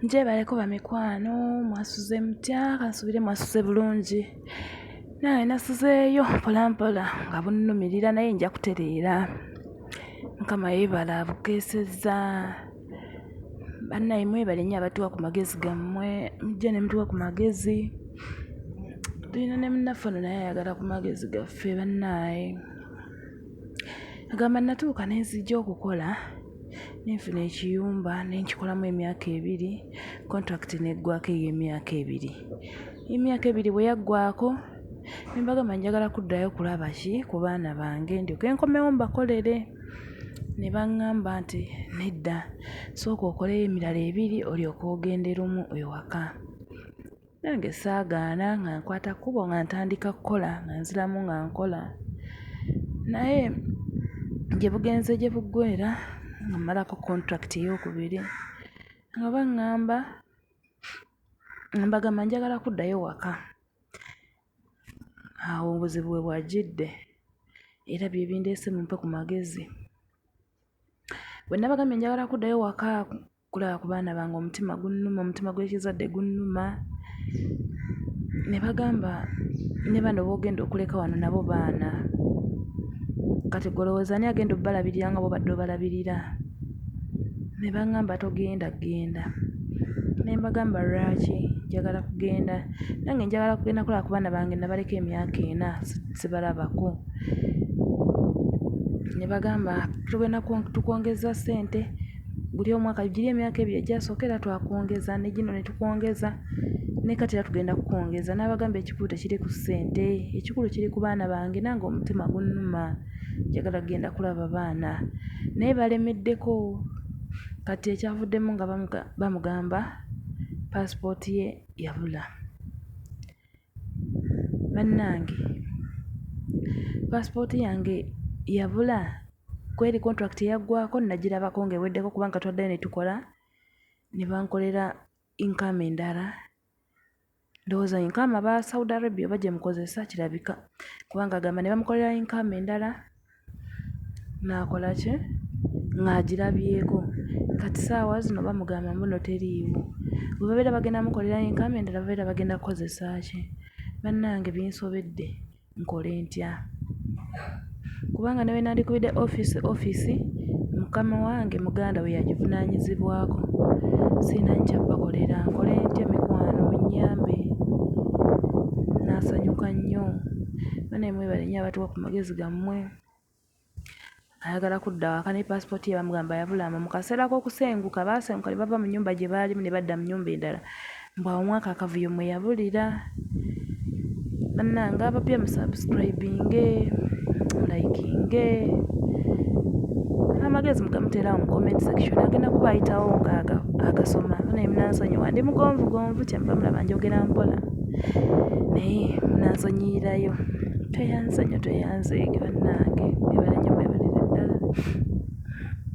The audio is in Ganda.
njebaleko bamikwano mwasuze mutya kansubire mwasuze bulungi naye nasuzeeyo mpolampola nga bunnumirira naye nja kutereera mukama yebala abukeesezza bannaye mwebale nnyo abatuwa ku magezi gammwe mujja ne mutuwa ku magezi tulina ne munnaffe ono naye ayagala ku magezi gaffe bannaaye agamba natuuka nenzija okukola Nenfuna ekiyumba nenkikolamu emyaka ebiri contract negwako eyemyaka ebiri emyaka ebiri bweyaggwako nembagamba njagala kuddayo kulaba ki kubaana bange ndyoke nkomewo mbakolere nebangamba nti nedda sooka okoleyo emirala ebiri olyoke ogende lumu ewaka Nange saagaana nga nkwata kkubo nga ntandika kukola nga nziramu nga nkola. Naye gye bugenze gye buggweera nga mmalako contract eyookubiri nga baŋŋamba, nga mbagamba njagala kuddayo waka. Awo obuzibu we bwajjidde era bye bindeese mumpe ku magezi. Bwe nabagambye njagala kuddayo waka Kulaba ku baana bange omutima gunnuma, omutima gw'ekizadde gunnuma. Ne bagamba, ne bano b'ogenda okuleka wano nabo baana. Kati ggwe olowooza ani agenda obbalabirira nga b'obadde obalabirira? Ne baŋŋamba, togenda genda. Ne mbagamba, lwaki njagala kugenda? Nange njagala kugenda kulaba ku baana bange nabaleka emyaka ena sibalabako. Ne bagamba, tugenda tukwongeza ssente. guli omwaka giri emyaka ebiri egyasooka era twakwongeza ne gino ne tukwongeza ne kati era tugenda kukwongeza n'abagamba ekikulu tekiri ku ssente ekikulu kiri ku baana bange nange omutima gunnuma njagala kugenda kulaba baana naye balemeddeko kati ekyavuddemu nga bamugamba paasipooti ye yabula. Bannange paasipooti yange yabula, kweri kontulakiti yaggwaako nnagirabako ng'eweddeko kubanga twaddayo ne tukola ne bankolera incume endala. Ndowooza incume aba Saudi Arabia oba gye mukozesa kirabika kubanga agamba ne bamukolera incume endala Naakola ki? Ng'agirabyeko. Kati saawa zino bamugamba mbuno teriiwo. Bwe babeera bagenda mukolera yinkamu endala babeera bagenda kukozesa ki? Bannange binsobedde, nkole ntya? Kubanga ne bwe nandikubidde ofiisi ofiisi, mukama wange muganda we yagivunaanyizibwako. Sirina nkyabakolera, nkole ntya mikwano munnyambe? Nnaasanyuka nnyo. Banaye mwebale nnyo abatuwa ku. magezi gammwe ayagala kudda waka ne paasipooti ye bamugamba yabulamu mu kaseera k'okusenguka baasenguka ne bava mu nyumba gye baalimu ne badda mu nyumba endala mbu awo mwaka akavuyo mwe yabulira bannange abapya musubscribinge mulikinge amagezi mugamuteerawo mu comment section agenda kuba ayitawo nga agasoma naye munansonyiwa ndi mugonvugonvu kyemuba mulaba njogera mpola naye munansonyiyirayo Tweyanze nnyo tweyanzeege bannange. Mwebale nnyo mwebalire ddala.